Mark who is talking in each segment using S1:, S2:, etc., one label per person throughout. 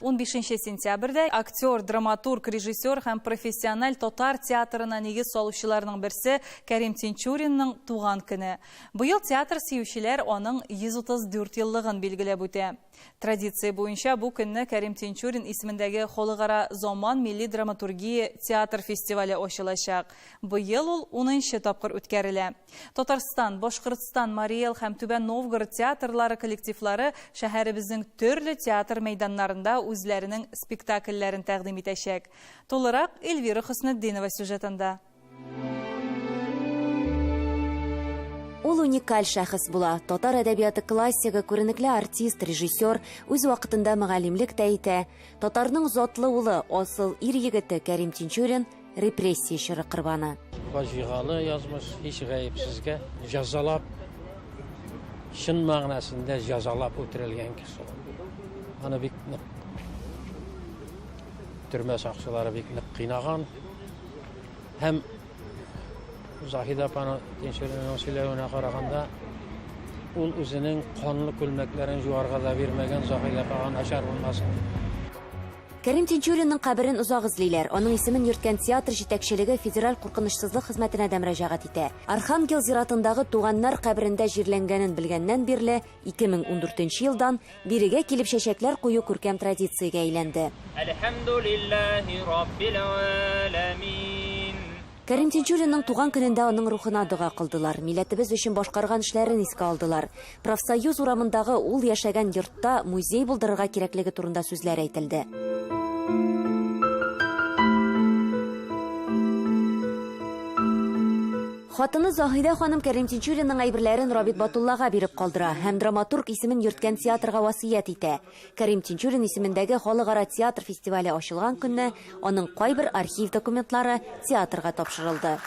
S1: Унбишенче сентябрьдә актер, драматург, режиссер һәм профессиональ татар театрына нигез салучыларның берсе Кәрим Тинчуринның туган көне. Быел театр сөючеләр аның 134 еллыгын билгеләп үтә. Традиция буенча бу көнне Кәрим Тинчурин исемендәге Халыкара Заман милли драматургия театр фестивале ачылачак. Быел ул унынчы тапкыр үткәрелә. Татарстан, Башкортстан, Марий Эл һәм Түбән Новгород театрлары коллективлары шәһәребезнең төрле театр мәйданнарында үзләренең спектакльләрен тәкъдим итәчәк. Тулырак Эльвира Хөснетдинова сюжетында.
S2: Ул уникаль шәхес була. Татар әдәбияты классигы, күренекле артист, режиссер, үз вакытында мөгаллимлек тә итә. Татарның затлы улы, асыл ир егете Кәрим Тинчурин, репрессия чоры корбаны. Фаҗигале
S3: язмыш һич гаепсезгә җәзалап, чын мәгънәсендә җәзалап үтерелгән кеше. Аны бик нык төрмә сакчылары бик нык кыйнаган һәм Заһида апаны тинчеренең сөйләвенә караганда ул үзенең канлы күлмәкләрен җуарга да бирмәгән Заһида апага начар булмасын
S2: Кәрим Тинчуринның каберен озак эзлиләр. Аның исемен йөрткән театр җитәкчелеге Федераль куркынычсызлык хезмәтенә дә мөрәҗәгать итә. Архангел зиратындагы туганнар каберендә җирләнгәнен белгәннән бирле, 2014 нче елдан, бирегә килеп чәчәкләр кую күркәм традициягә әйләнде. Әлхәмдүлилләһи
S4: раббил галәмин. Кәрим
S2: Тинчуринның туган көнендә аның рухына дога кылдылар, милләтебез өчен башкарган эшләрен искә алдылар. Профсоюз урамындагы ул яшәгән йортта музей булдырырга кирәклеге турында сүзләр әйтелде. Хатыны Заһидә ханым Кәрим Тинчуринның әйберләрен Рабит Батуллага биреп калдыра һәм драматург исемен йөрткән театрга васыять итә. Кәрим Тинчурин исемендәге халыкара театр фестивале ачылган көнне аның кайбер архив документлары театрга тапшырылды.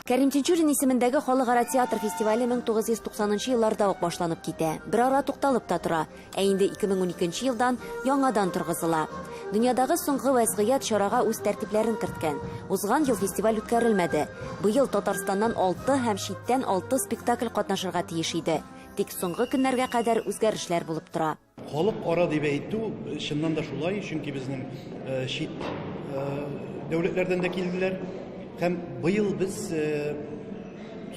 S2: Кәрим Тинчурин исемендәге халыкара театр фестивале 1990 нчы елларда ук башланып китә, берара тукталып та тора, ә инде 2012 нче елдан яңадан торгызыла. Дөньядагы соңгы вәзгыять чарага үз тәртипләрен керткән. Узган ел фестиваль үткәрелмәде. Быел Татарстаннан алты һәм читтән алты спектакль катнашырга тиеш иде. Тик соңгы көннәргә кадәр үзгәрешләр булып тора. Халыкара дип
S5: әйтү, чыннан да шулай, чөнки безнең чит дәүләтләрдән дә килделәр. Һәм быел без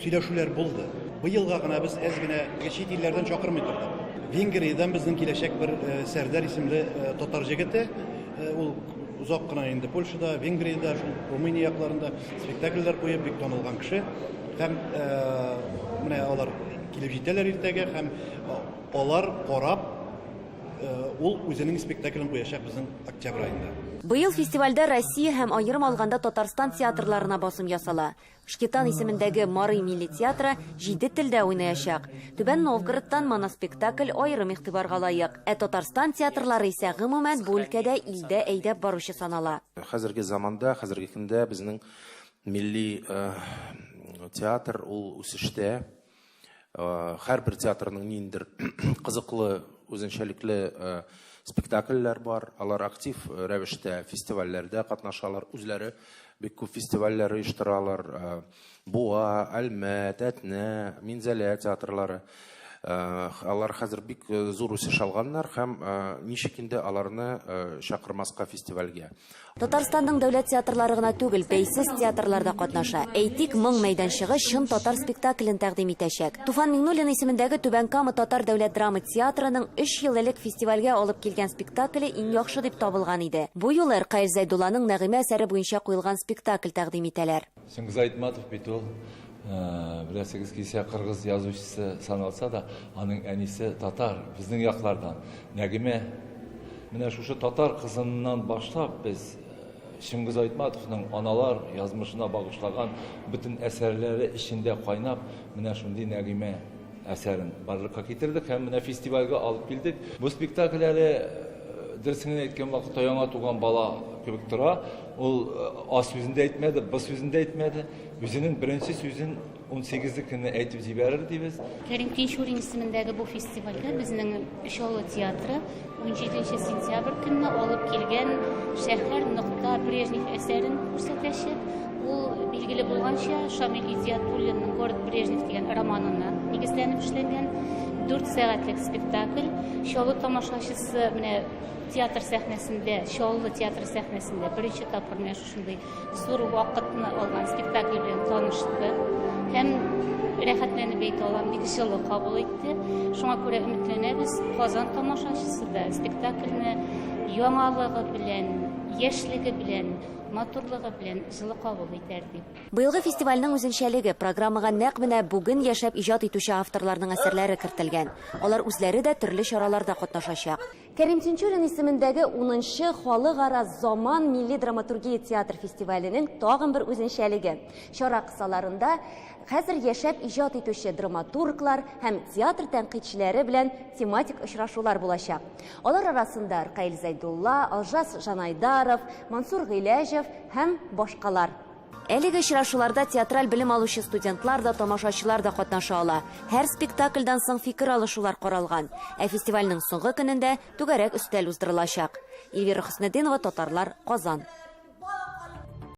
S5: Сөйләшүләр булды. Быелга гына без әз генә чит илләрдән чакырмый тордык. Венгриядән безнең киләчәк бер Сәрдәр исемле татар җегете, ул озак кына инде Польшада, Венгриядә, шул Румыния якларында спектакльләр куеп, бик танылган кеше. Һәм менә алар килеп җитәләр иртәгә һәм алар карап, ул үзенең спектаклен куячак безнең октябрь аенда. Быел фестивальдә
S2: Россия һәм аерым алганда Татарстан театрларына басым ясала. Шкетан исемендәге Марый милли театры җиде телдә уйнаячак. Түбән Новгородтан моноспектакль аерым игътибарга лаек. Ә Татарстан театрлары исә, гомумән, бу өлкәдә илдә әйдәп баручы санала. Хәзерге заманда,
S6: хәзерге көндә безнең милли театр ул үсештә. Һәрбер театрның ниндидер кызыклы, үзенчәлекле спектакльләр бар. Алар актив рәвештә фестивальләрдә катнашалар, үзләре бик күп фестивальләр оештыралар. Буа, Әлмәт, Әтнә, Минзәлә театрлары. Алар хәзер бик зур үсеш алганнар һәм ничек инде аларны чакырмаска фестивальгә. Татарстанның
S2: дәүләт театрлары гына түгел, бәйсез театрлар да катнаша. Әйтик, Моң мәйданчыгы чын татар спектаклен тәкъдим итәчәк. Туфан Миңнуллин исемендәге Түбән Кама татар дәүләт драма театрының өч ел элек фестивальгә алып килгән спектакле иң яхшы дип табылган иде. Бу юлы Ркаил Зәйдулланың Нәгыймә әсәре буенча куелган спектакль тәкъдим итәләр. Сөмбез Айтматов
S7: бит ул, беләсегез килсә, кыргыз язучысы саналса да, аның әнисе татар, безнең яклардан. Нәгимә, менә шушы татар кызыннан башлап без Шыңгыз Айтматовның аналар язмышына багышлаган бөтен әсәрләре эчендә кайнап, менә шундый Нәгимә Әсәрен барлыкка китердек һәм менә фестивальгә алып килдек. Бу спектакль әле, дөресен генә әйткән вакытта, яңа туган бала кебек тора. Ул А сүзен дә әйтмәде, Б сүзен дә әйтмәде. Үзенең беренче сүзен унсигезлекене әйтеп җибәрер дибез. Кәрим Тинчурин
S8: исемендәге бу фестивальгә безнең Чаллы театры, 17 нче сентябрь көнне алып килгән шәһәр нокта брежнев әсәрен күрсәтәчәк ул билгеле булганча шамил идиатуллинның город брежнев дигән романына нигезләнеп эшләнгән дүрт сәгатьлек спектакль чаллы тамашачысы менә театр сәхнәсендә чаллы театр сәхнәсендә беренче тапкыр менә шушындый Зур вакытны алган спектакль белән танышты һәм рәхәтләнеп әйтә алам, бик җылы кабул итте. Шуңа күрә өметләнәбез, Казан тамашачысы да спектакльне яңалыгы белән, яшьлеге белән матурлыгы белән җылы кабул итәр дип. Быелгы фестивальнең
S2: үзенчәлеге, программага нәкъ менә бүген яшәп иҗат итүче авторларның әсәрләре кертелгән. Алар үзләре дә төрле чараларда катнашачак. Кәрим Тинчурин исемендәге унынчы Халыкара заман милли драматургия театр фестиваленең тагын бер үзенчәлеге, чара кысаларында хәзер яшәп иҗат итүче драматурглар һәм театр тәнкыйтьчеләре белән тематик очрашулар булачак. Алар арасында Ркаил Зәйдулла, Алжас Жанайдаров, Мансур Гыйләҗев һәм башкалар. Әлеге очрашуларда театраль белем алучы студентлар да, тамашачылар да катнаша ала. Һәр спектакльдан соң фикер алышулар каралган. Ә фестивальнең соңгы көнендә түгәрәк өстәл уздырылачак. Эльвира Хөснетдинова, Татарлар, Казан.